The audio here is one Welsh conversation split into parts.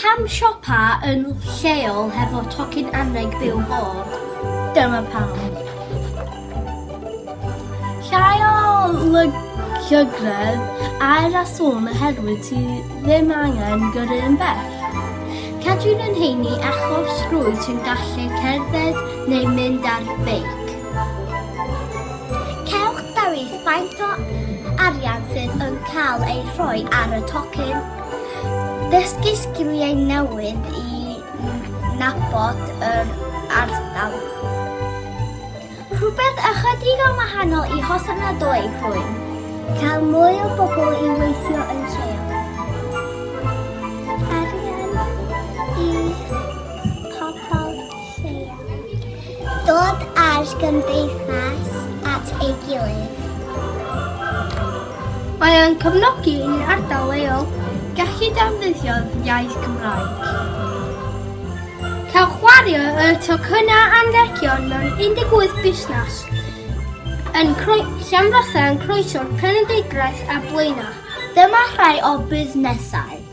Pam siopa yn lleol hefo tocyn anrheg byw bod? Dyma pam. Llai o llygredd aer a sŵn oherwydd ti ddim angen gyrru yn bell. Cadwyn yn heini achos rwyt yn gallu cerdded neu mynd ar beic. Cewch ddewis faint o arian sydd yn cael ei rhoi ar y tocyn, dysgu sgiliau newydd i nabod yr ardal, rhywbeth ychydig yn wahanol i Hosan na Doi Rhwyn, cael mwy o bobl i weithio yn lleol, arian i pobl Dod â'r gymdeithas at ei gilydd. Mae o'n cefnogi i ni ardal leol gallu defnyddio'r iaith Gymraeg. Cael chwario y tocynnau anrhegion mewn 18 busnes yn Llanfyllin, Croeso, Penrhyndeudraeth a Blaenau. Dyma rhai o busnesau.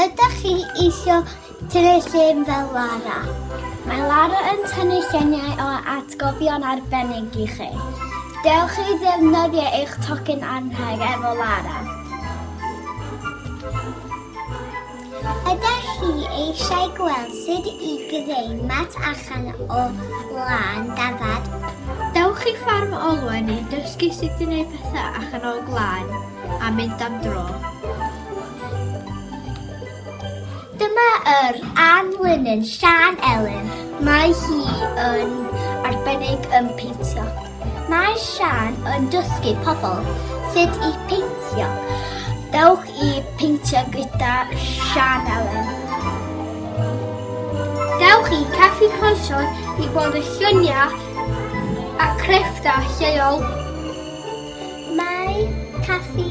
Ydych chi eisiau tynnu llun fel Lara? Mae Lara yn tynnu lluniau o atgofion arbennig i chi. Dewch chi ddefnyddio eich tocyn anrheg efo Lara. Ydych chi eisiau gweld sut i greu mat allan o wlân dafad? Dewch i Ffarm Olwen i dysgu sut i wneud pethau allan o wlân a mynd am dro. Dyma yr anlinyn Sian Elen. Mae hi yn arbennig yn peintio. Mae Sian yn dysgu pobl sut i peintio. Dewch i peintio gyda Sian Ellen. Dewch i Caffi Croeson i gweld y lluniau a crefftau lleol. Mae Caffi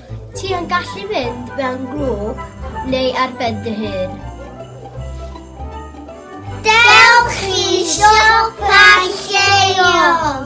Ti yn gallu mynd mewn grŵp neu ar ben dy hun. Dewch i siopa lleol!